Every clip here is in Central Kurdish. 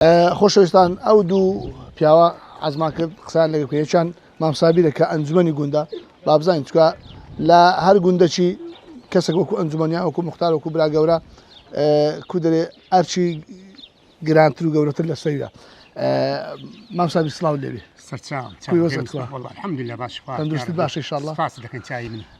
خۆشەویستان ئەو دوو پیاوە عزمان کرد قسان لەگە کوێچان مامسابیرە کە ئەنجومی گوندە بابزانین چکە لە هەر گوندەچی کەسێک وەکو ئەنجومەنیان وەکو مختار وەکو برا گەورە کو دەێ ئەرچی گرانتر و گەورەتر لە سەویە مامسابی سلااو لێوی سەرچاوەندوستی باشی شڵ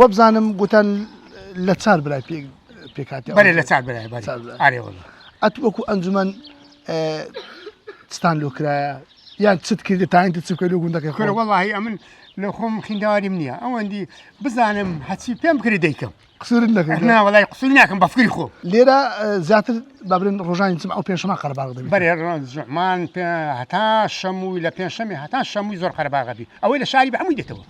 وەبزانم گوتان لە چار برای پێ پێکاتی بەێ لە چار برای ئەت وەکو ئەنجومەن ستان لۆکرایە یان چت کردی تاینتی چ کرد و گوندەکە خۆ وڵی ئەمن لە خۆم خینداواریم نییە ئەوەندی بزانم هەچی پێم بکری دەیکەم قسور نەکرد ناوەڵی قسور ناکەم بەفکری خۆ لێرە زیاتر بابرن ڕۆژانی چم ئەو پێشمە قەرباغ دەبی بەێ ڕۆژمان هەتا شەمووی لە پێنجشەمی هەتا شەمووی زۆر قەرباغەبی ئەوەی لە شاری بە هەمووی دێتەوە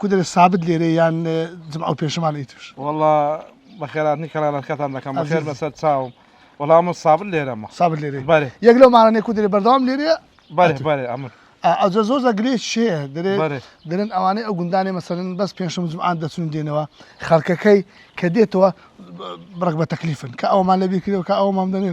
کودەرێ سابت لێرەی یان جمعە و پێنجشەمان ئیتر؟ وەڵا بەخێراتنی کەنالەکەتان دەکەم بەخێر بەسەر چاوم وەڵا من سابت لێرەمە سابت لێرەی بەرێ یەک لەو ماڵانەی کودرێ بەردەوام لێرەیە بەرێ بەرێ ئەمن ئەجە زۆر زەگرێ شێ دەرێ بەرێ دەرن ئەوانەی ئەو گوندانێ مەسەرن بەس پێنجشەم و جمعان دەچون و دێنەوە خەڵکەکەی کە دێتەوە بڕەک بە تەکلیفن کە ئەومان لەبیر کردەوە کە ئەومان دەنێ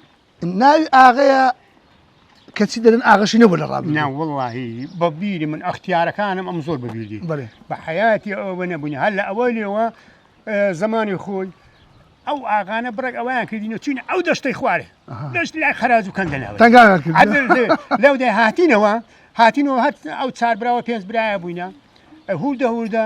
ناوی ئاغەیە کەچی دەن ئاغشی نەبوو لە ڕاب ناوەڵی بەبیری من ئەختیارەکانم ئەم زۆر بەبیری بە حیاتی ئەوە نەبوونی هەر لە ئەوەی لێەوە زمانی خۆی ئەو ئاغانە بڕێک ئەویان کردینە چین ئەو دەشتەی خوارێ دەشت لای خراج و کەندەناوە لەو دەی هاتینەوە هاتینەوە هەر ئەو چار براوە پێنج برایە بووینە هول دەهوردە